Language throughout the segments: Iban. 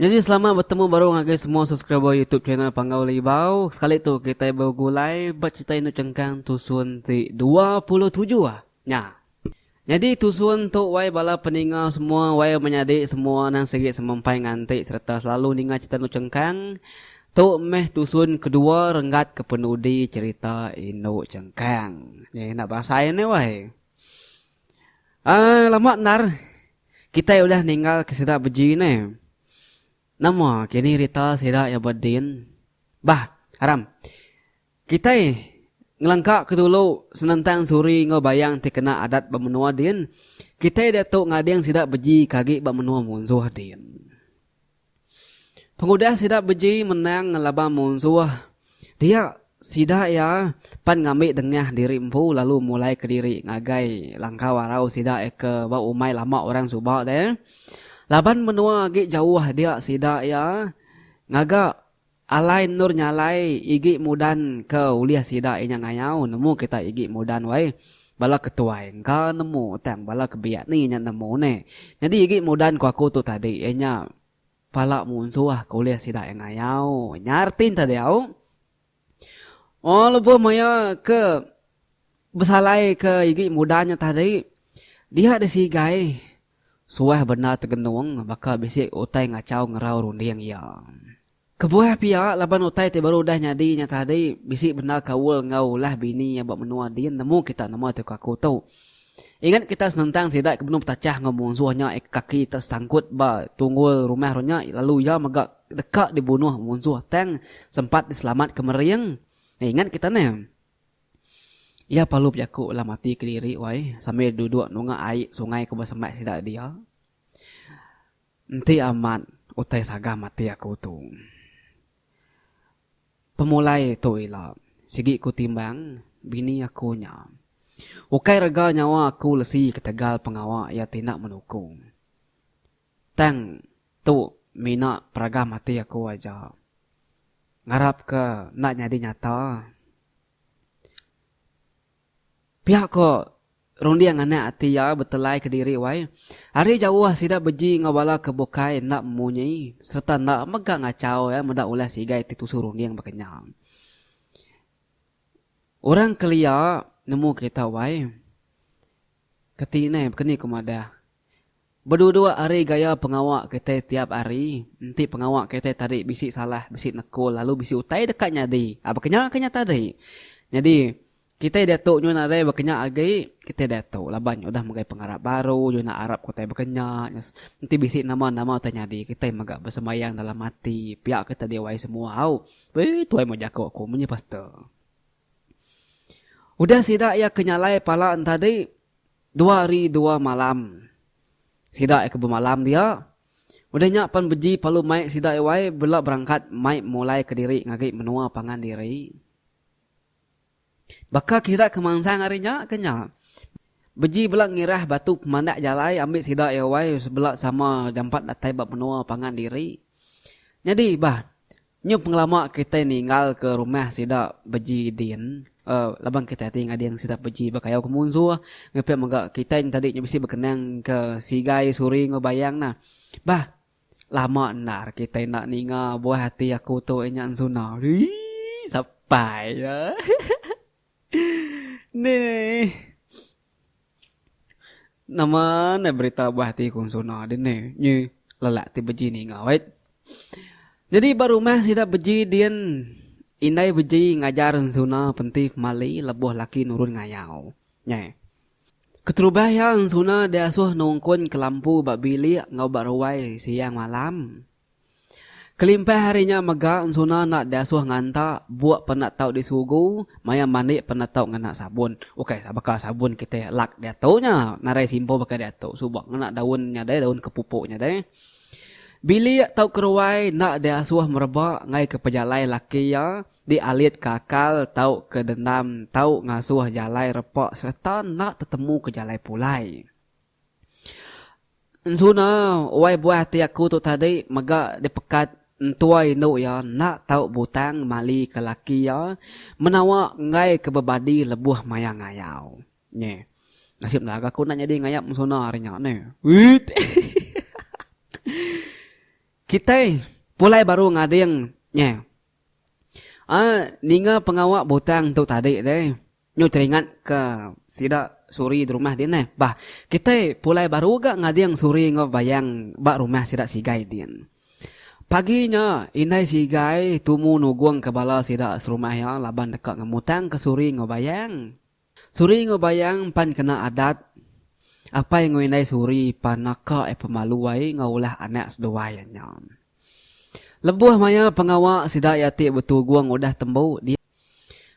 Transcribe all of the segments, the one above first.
Jadi selamat betemu baru ngagai semua subscriber YouTube channel Panggau Libau. Sekali tu kita begulai bercerita indu cengkang tusun ti 27 ah. Nya. Nyadi tusun tu wai bala peninga semua wai menyadi semua nang sigi semempai nganti sereta selalu ninga cerita endu chengkang tu meh tusun kedua renggat ke penudi cerita endu chengkang nya enda berasai enda wai um lama endar kitai udah ninggal ke sida beji neh nama kini rita sida iya bedin bah aram. Kitai ngelengkaka dulu senentang suri enggau bayang ti kena adat ba menua din, kitai diatu ngading sida beji ke agi ba menua munsuh din. Pengudah sida beji menang ngelaban munsuh, dia sida iya pan ngambi dengah diri empu lalu mulai kediri ngagai langkau arau sida ke ba umai lama orang suba deh. Laban menua agi jauh dia sida iya ngaga. Alai endur nyalai igi mudan ke ulih sida inya ngayau nemu kitai igi mudan wai. Bala ke tuai engka nemu tang bala ke biak ni inya nemu ne. Nyadi igi mudan ku aku tu tadi iya nya pala munsuh ke ulih sida iya ngayau. Nyar tin tadi au. Ohh lebuh maya ke besalai ke igi mudan nya tadi dia disigai. Suah bendar tegenung baka bisi utai ngachau ngerau runding iya. Kebuah pia, laban utai ti baru udah nyadi nya tadi, bisi bendar kaul enggau ulah bini iya ba menua din nemu kita nama ti ko aku tu. Ingat kita senentang sida ke benung petachah enggau munsuh nya ika kaki tesangkut ba tunggul rumah ru nya lalu iya mega deka dibunuh munsuh tang sempat diselamatka mering. Ingat kita neh. Iya parlu bejaku alam ati ke diri wai sambil duduk nunga ai sungai ke besembat sida dia. Enti amat utai saga mati aku tu. Pemulai tu ila sigi ku timbang bini aku nya. Ukai rega nyawa aku lesi ketegal pengawa iya ti enda menuku. Tang tu mina peragam ati aku aja. Ngarap ke enda nyadi nyata. Pia ko runding anak ati iya betelai kediri wai. Ari jauh sida beji enggau bala ke bukai enda munyi serta enda mega ngachau iya meda ulah sigai ti tusu runding baka nya. Orang kelia nemu kita wai. Keti inai baka ni ku madah. Beduduk ari gaya pengawa kitai tiap hari, enti pengawa kitai tadi bisi salah, bisi nekul lalu bisi utai deka nyadi aba kenya ke nya tadi. Nyadi, kitai diatu nyuan nadai aba kenya agi, kitai diatu laban udah megai pengarap baru, nyuan arap utai aba kenya. Enti bisi nama-nama utai nyadi, kitai mega besembayang dalam ati, pia ke tadi wai semua au. Wee, tuai meh jaku aku, menyii pastor. Udah sida iya ke nyalai pala entadi dua hari dua malam. Sida iya ke bemalam dia. Udah nya pan beji palu mai sida iya wai bela berangkat mai mulai kediri ngagi menua pangan diri. Baka ke sida ke mansang hari nya ke nya. Beji bela ngirah batu pemandak jalai ambi sida iya wai bela sama jampat datai ba menua pangan diri. Nyadi bah. Nyau pengelama kitai ninggalka rumah sida beji din laban kitai ti ngading sida beji bekayau ke munsuh ngepit mega kitai nyadi nya bisi bekenang ke sigai suri enggau bayang nah. Bah lama endar kitai enda ninga buah ati aku tu inya ensuna. Ii Sapai. Neh. Nama neh berita bah ti ku Sona dini nyi lelak ti beji ninga wait. Nyadi ba rumah sida beji din indai beji ngajar Sona penti pemali lebuh laki nurun ngayau. Neh. Keterubah iya Sona diasuh nungkun ke lampu ba bilik enggau ba ruai siang malam. Kelimpah ari nya mega ensuna enda diasuh nganta buk penda tau disugu maya mandi penda tau ngena sabun. Ukai baka sabun kitai lak diatu nya, narai simpo baka diatu suba ngena daun nya deh, daun kepupu nya deh. Bilik tauka ruai enda diasuh mereba ngaika pejalai laki iya dialitka akal tauka dendam tau ngasuh jalai repa sereta enda tetemuka jalai pulai. Enzuna wai buah ti aku tu tadi mega dipekat entua indu iya enda tau butang mali ke laki iya menawa enggai ke bebadi lebuh maya ngayau nyeh nasib lagu aku enda nyadi ngayap enzuna hari nya neh hehehe kitai pulai baru ngading nyeh a ninga pengawa butang tu tadi deh. Nyu teringat ka sida suri dirumah din neh bah kitai pulai baru ga ngading suri enggau bayang ba rumah sida sigai din. Pagi nya indai sigai tumu nugung ka bala sida serumah iya laban deka ngemutang ka suri enggau bayang. Suri enggau bayang pan kena adat apai enggau indai suri pan naka iya pemalu ai enggau ulah anak seduai nya. Lebuh maya pengawa sida iya ti betugung udah tembu dia.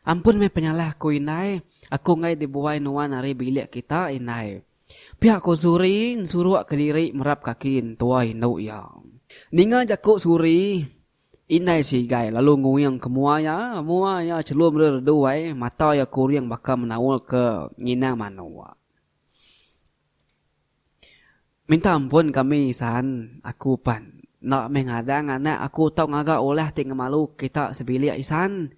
Ampun meh penyalah ku indai, aku enggai dibuai nuan ari bilik kita indai. Pia ku Suri nsuruk kediri merap kaki entua indu iya. Ninga jaku Suri, indai Sigai lalu nguing ke mua iya, mua iya chelum reredu ai, mata iya kuring baka menaul ke nginang manuk. Minta ampun kami Isan, aku pan. Enda meh ngadang anak aku tau ngaga ulah ti ngemalu kita sebilik Isan.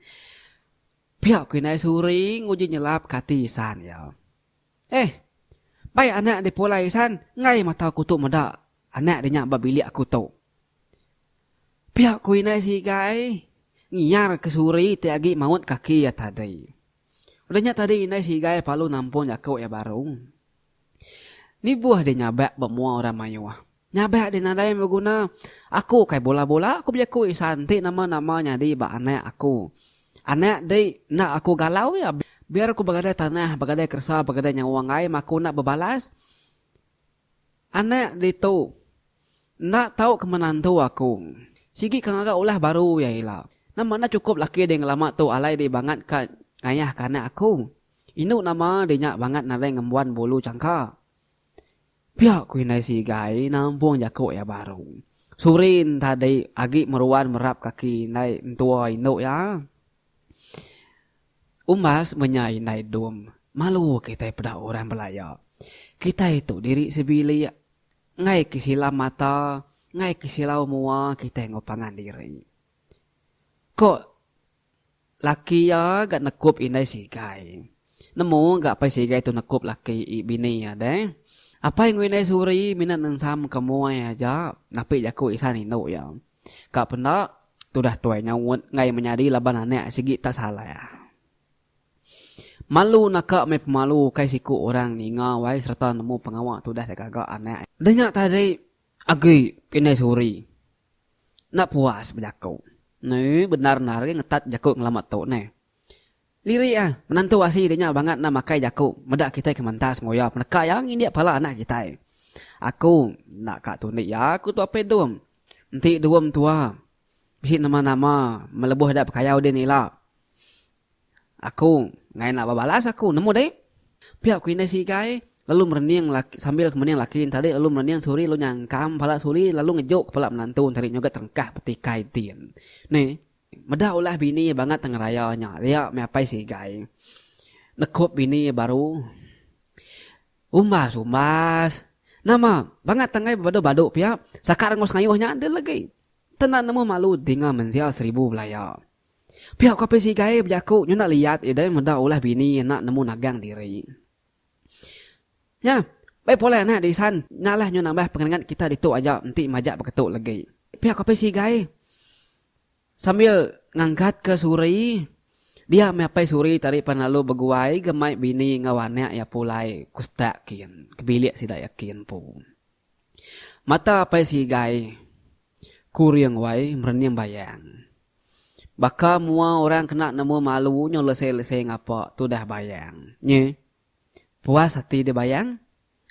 Pia ku indai Suri nguji nyelap ka ati Isan iya. Eh. Bai anak dipulai Isan enggai mata aku tu meda anak di nya ba bilik aku tu. Pia ku indai Sigai ngiar ke Suri ti agi maut kaki iya tadi. Udah nya tadi indai si Igai palu nampung jaku iya baru. Nibuh deh nyabak ba mua orang mayuh. Nyabak deh nadai beguna. Aku kai bula-bula aku bejaku Isan enti nama-nama nyadi ba anak aku. Anak di enda aku galau iya. Biar aku begadai tanah, begadai keresa, begadai nyawa enggai, aku enda bebalas. Anak ditu. Enda tau ke menantu aku. Sigi ke ngaga ulah baru iya ila. Nama enda chukup laki ding lama tu alai di bangat ka ngayah ka anak aku. Indu nama di nya bangat nadai ngembuan bulu changka. Pia ku indai Sigai nampung jaku iya baru. Surin tadi agi meruan merap kaki indai entua indu iya. Umbas menya indai dom, malu kitai peda orang belaya. Kitai tu diri sebilik. Enggai ke silam mata, enggai ke silau mua kitai enggau pangan diri. Ko laki iya ga nekup indai sigai. Nemu ga apai sigai tu nekup laki i bini iya deh. Apai enggau indai Suri mina nensamka muai aja napi jaku isan indu iya. Ka penda, tudah tuai nyaut enggai menyadi laban anak sigi tak salah. Malu naka meh pemalu ukai siku orang ninga wai sereta nemu pengawa tudah da gaga anak. Da nya tadi agi indai suri enda puas bejaku. Neh bendar endar agi ngetat bejaku ngelama tu neh. Lirik ah, menantu asi dik nya bangat enda makai jaku, meda kitai ke mentas ngoya peneka iya ngindik pala anak kitai. Aku enda ka tunik iya ku tu Apit Dum. Enti Dum tua, bisi nama nama melebuh ida pekayau din ila. Aku ngai enda bebalas aku nemu deh. Pia ku indai Sigai lalu merening laki sambil ke mening laki entadi lalu merening Suri lalu nyangkam pala Suri lalu ngejuk kepala menantu entadi nyoga terengkah betikai din. Neh. Meda ulah bini iya bangat ngeraya nya ria meh apai Sigai nekup bini iya baru. Umbas umbas. Nama bangat tanggai bebadu badu pia saka rengos ngayuh nya deh legi. Te enda nemu malu dinga menzia seribu belaya. Pia ku apai Sigai bejaku nyu enda liat iya deh meda ulah bini iya enda nemu nagang diri. Nya, bei pulai anak disan nyalah nyau nambah pengeningat kita ditu aja enti majak beketu legi. Pia Kopi Sigai sambil ngangkatka suri dia meh apai suri tadi pan lalu beguai ga mai bini enggau anak iya pulai ke usta kin ke bilik sida iya kin empu. Mata apai sigai ku ring wai merening bayang. Baka mua orang kena nemu malu nyau lesei-lesei ngapa tudah bayang. Nyi. Puas ati deh bayang.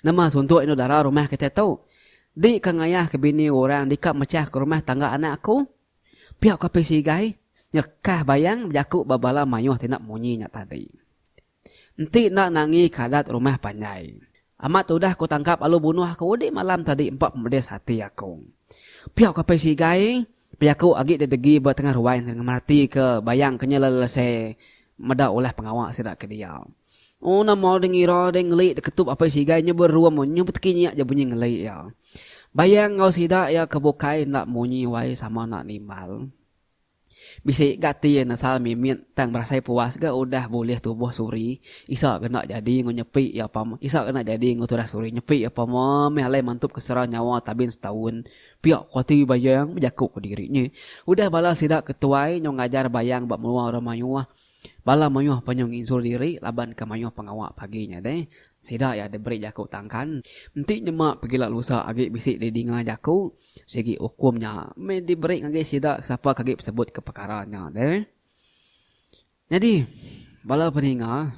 Nama suntuk indu dara rumah kitai tu. Di ka ngayah ke bini orang di ka mechah ke rumah tangga anak aku. Pia ku apai sigai nyerekah bayang bejaku ba bala mayuh ti enda munyi nya tadi. Enti enda nangi ke adat rumah panjai. Amat tudah ku tangkap lalu bunuh aku udik malam tadi empa pemedis ati aku. Piak ku apai sigai, pi aku agi didegi ba tengah ruai enggin ngemerati ke bayang ke nya lalu lese meda ulah pengawa sida ke dia. Ooh nama deh ngira deh ngeli deketup apai sigai nya berum nya beteki nya ja bunyi ngeli iya. Bayang enggau sida iya ke bukai enda munyi wai sama enda nimbal. Bisi ga ti nesal mimit tang berasai puas ga udah bulih tubuh Suri. Isa ga enda jadi enggau nyepi iya pama isa ga enda jadi enggau tudah Suri nyepi iya pama meh alai mantup ke sera nyawa Tabin setaun. Pia ku ati Bayang bejaku ke diri nya. Udah bala sida ke tuai nyau ngajar Bayang ba menua orang mayuh. Bala mayuh pun nyau nginsul diri laban ke mayuh pengawa pagi nya deh. Sida iya diberi jaku tangkan. Enti nyema pegila lusa agi bisi didinga jaku. Sigi ukum nya meh diberi ngagai sida ke sapa ke agi besebutka pekara nya deh. Nyadi, bala peninga,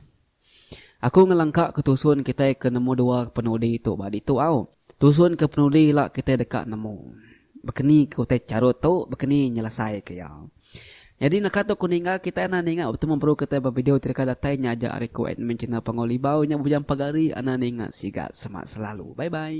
aku ngelengkaka tusun kitai ke nemu dua penudi tu ba ditu au. Tusun ke penudi ila kitai deka nemu. Bekenike utai charut tu, bekeni nyelesaika iya. Nyadi naka tu aku ninga kitai enda ninga betu memperu kitai ba video ti deka datai nya aja ari ku admin channel Panggau Libau nya bebujang pagari enda ninga siga semak selalu. Bye bye.